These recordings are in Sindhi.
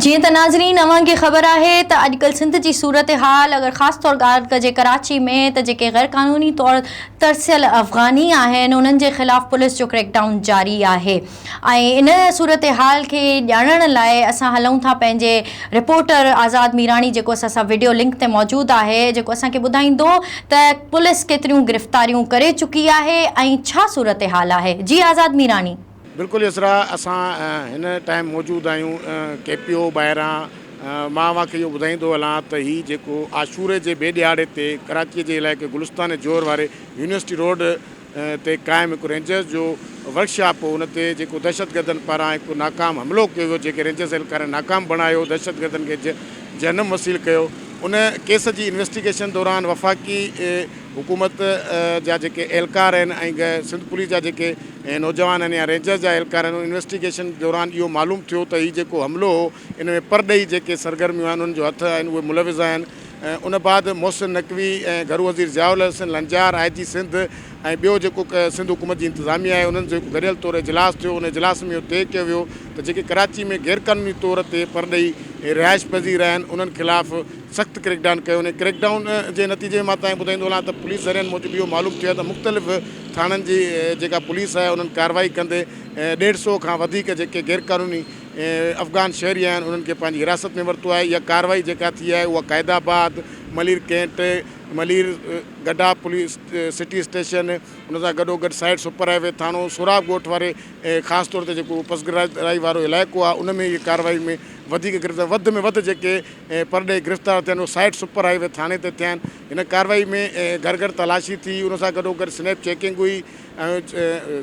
جيئن ته ناظرين اوهان کي خبر آهي ته اڄڪلهه سنڌ جي صورتحال اگر خاص طور ڳالهه ڪجي ڪراچي ۾ ته جيڪي غيرقانوني طور ترسيل افغاني آهن انهن جي خلاف پوليس جو ڪريڪ ڊائون جاري آهي ۽ ان صورتحال کي ڄاڻڻ لاء اسان هلون ٿا پنهنجي رپورٽر آزاد ميراڻي جيڪو اسان سان وڊيو لنڪ تي موجود آهي جيڪو اسان کي ٻڌائيندو ته پوليس ڪيتريون گرفتاريون ڪري چڪي آهي ۽ ڇا صورتحال آهي جي آزاد ميراڻي. بلڪل يسرا اسان هن ٽائيم موجود آهيون ڪي پي او ٻاهران مان اوهان کي اهو ٻڌائيندو هلان ته هي جيڪو عاشوري جي ٻئي ڏهاڙي تي ڪراچي جي علائقي گلستان جوهر واري يونيورسٽي روڊ تي قائم هڪ رينجرز جو ورڪشاپ هو ان تي جيڪو دهشتگردن پاران هڪ ناڪام حملو ڪيو ويو جنهن کي رينجرز اهلڪارن ناڪام بڻايو دهشتگردن کي جهنم وصيل ڪيو ان ڪيس جي انويسٽيگيشن دوران وفاقي حڪومت جا جيڪي اهلڪار آهن ۽ سنڌ پوليس جا جيڪي نوجوان آهن يا رينجرز جا اهلڪار آهن انويسٽيگيشن دوران اهو معلوم ٿيو ته هي جيڪو حملو هو ان ۾ پرڏيهي جيڪي سرگرميون آهن انهن جو هٿ آهن اهي ملوث آهن ان بعد محسن نقوي ۽ گهرو وزير ضياء الحسن لنجار آء جي سنڌ ۽ ٻيو جيڪو سنڌ حڪومت جي انتظاميه آهي انهن جو هڪ گڏيل طور اجلاس ٿيو ان اجلاس ۾ اهو طئي ڪيو ويو ته جيڪي ڪراچي ۾ غيرقانوني طور تي پرڏيهي رهائش پذير آهن انهن خلاف سخت ڪريڪ ڊان ڪيو وڃي ڪريڪ ڊان جي نتيجي ۾ مان توهان کي ٻڌائيندو هلان ته پوليس ذريعن موجب اهو معلوم ٿيو آهي ته مختلف ٿاڻن جي جيڪا پوليس آهي انهن ڪارروائي ڪندي ڏيڍ سئو کان وڌيڪ جيڪي غيرقانوني افغان شهري آهن انهن کي پنهنجي حراست ۾ ورتو آهي اها ڪارروائي جيڪا ٿي آهي اها قائد آباد ملير ڪينٽ ملير گڊا پوليس سٽي اسٽيشن ان سان گڏوگڏ سائيڊ سپر هاء وي ٿاڻو سوراب ڳوٺ واري خاص طور تي جيڪو پسگرائي وارو علائقو آهي ان ۾ اهي ڪارروائي ۾ وڌيڪ گرفتار وڌ ۾ وڌ جيڪي ۽ پرڏيهي گرفتار ٿين اهو سائيٽ سپر هاء وي ٿاڻي تي ٿيا آهن هن ڪارروائي ۾ گهر گهر تلاشي ٿي ان سان گڏو گڏ سنيپ چيڪنگ هئي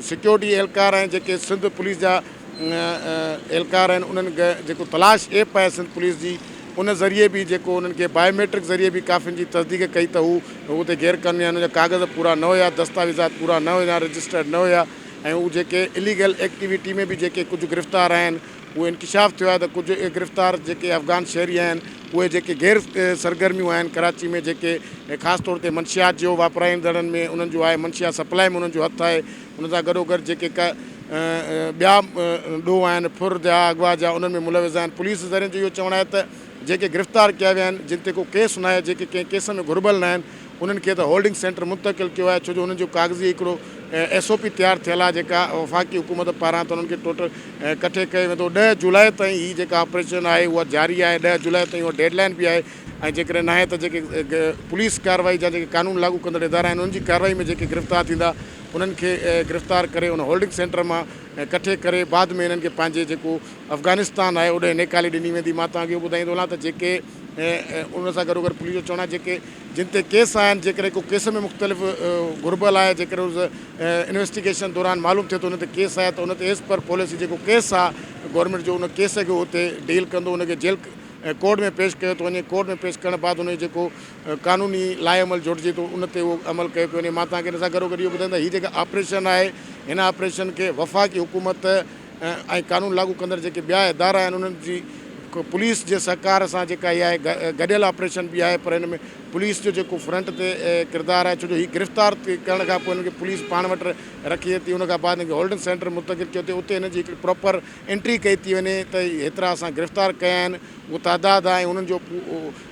سيڪيورٽي اهلڪار ۽ جيڪي سنڌ پوليس جا اهلڪار آهن انهن جيڪو تلاش ايپ آهي سنڌ پوليس جي ان ذريعي به جيڪو انهن کي بائيوميٽرڪ ذريعي به ڪافين جي تصديق ڪئي ته هو اتي غير قانوني آهن ان جا ڪاغذ پورا نه هيا دستاويزات پورا نه هيا رجسٽرڊ نه هيا ۽ هو جيڪي اليگل ايڪٽيويٽي ۾ به جيڪي ڪجهه گرفتار آهن اهو انڪشاف ٿيو آهي ته ڪجهه اهي گرفتار جيڪي افغان شهري آهن اهي جيڪي غير سرگرميون آهن ڪراچي ۾ جيڪي خاص طور تي منشيات جيو واپرائيندڙن ۾ انهن جو آهي منشيات سپلائي ۾ انهن جو هٿ آهي ان سان گڏوگڏ جيڪي ڪا ٻيا ڏوهه آهن ڦر جا اغوا جا انهن ۾ ملوث آهن پوليس ذريعن جو اهو چوڻ آهي ته جيڪي گرفتار ڪيا ويا آهن جن تي ڪو ڪيس ناهي جيڪي ڪنهن ڪيس ۾ گهربل ناهن انهن کي ته هولڊنگ سينٽر منتقل ڪيو آهي ڇو جو انهن جو ڪاغذي هڪڙو ايس او پي تيار ٿيل آهي جيڪا وفاقي حڪومت پاران ته انهن کي ٽوٽل ڪٺي ڪيو ويندو ڏهه جولاء تائين هي جيڪا آپريشن آهي اها جاري آهي ڏهه جولاء تائين اها ڊيڊ لائين به آهي ۽ جيڪڏهن ناهي ته جيڪي پوليس ڪارروائي جا جيڪي قانون لاڳو ڪندڙ ادارا آهن انهن جي ڪارروائي ۾ جيڪي گرفتار ٿيندا انهن کي گرفتار ڪري ان هولڊنگ سينٽر مان ڪٺي ڪري بعد ۾ انهن کي پنهنجي جيڪو افغانستان آهي اوڏانهن نيڪالي ڏني ويندي مان توهان کي اهو ٻڌائيندو هلان ته جيڪي ۽ ان سان گڏوگڏ پوليس جو چوڻ آهي جيڪي جن تي ڪيس آهن جيڪڏهن ڪو ڪيس ۾ مختلف گهربل آهي جيڪڏهن ان انويسٽيگيشن دوران معلوم ٿئي ٿو ان تي ڪيس آهي ته ان تي ايز پر پوليسي جيڪو ڪيس آهي گورنمينٽ جو ان ڪيس کي اتي ڊيل ڪندو ان کي جيل ڪورٽ ۾ پيش ڪيو ٿو وڃي ڪورٽ ۾ پيش ڪرڻ بعد ان جو جيڪو قانوني لاء عمل جوڙجي ٿو ان تي اهو عمل ڪيو پيو وڃي مان توهان کي ان سان گڏوگڏ اهو ٻڌائي ته هي جيڪا آپريشن آهي هن آپريشن کي وفاقي حڪومت ۽ قانون لاڳو ڪندڙ جيڪي ٻيا ادارا آهن انهن جي پوليس جي سهڪار سان جيڪا اها گڏيل آپريشن به آهي پر ان ۾ پوليس جو جيڪو فرنٽ تي ڪردار آهي ڇو جو هي گرفتار ڪرڻ کان پوء هن کي پوليس پاڻ وٽ رکي ٿي ان کان بعد هن کي هولڊنگ سينٽر ۾ منتقل ڪيو ٿي اتي هن جي هڪڙي پراپر انٽري ڪئي ٿي وڃي ته هيترا اسان گرفتار ڪيا آهن اهو تعداد آهي انهن جو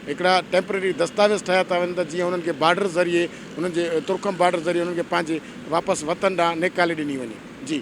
هڪڙا ٽيمپرري دستاويز ٺاهيا ٿا وڃن ته جيئن انهن کي بارڊر ذريعي انهن جي ترکم بارڊر ذريعي انهن کي پنهنجي واپس وطن ڏانهن نيڪالي ڏني وڃي جي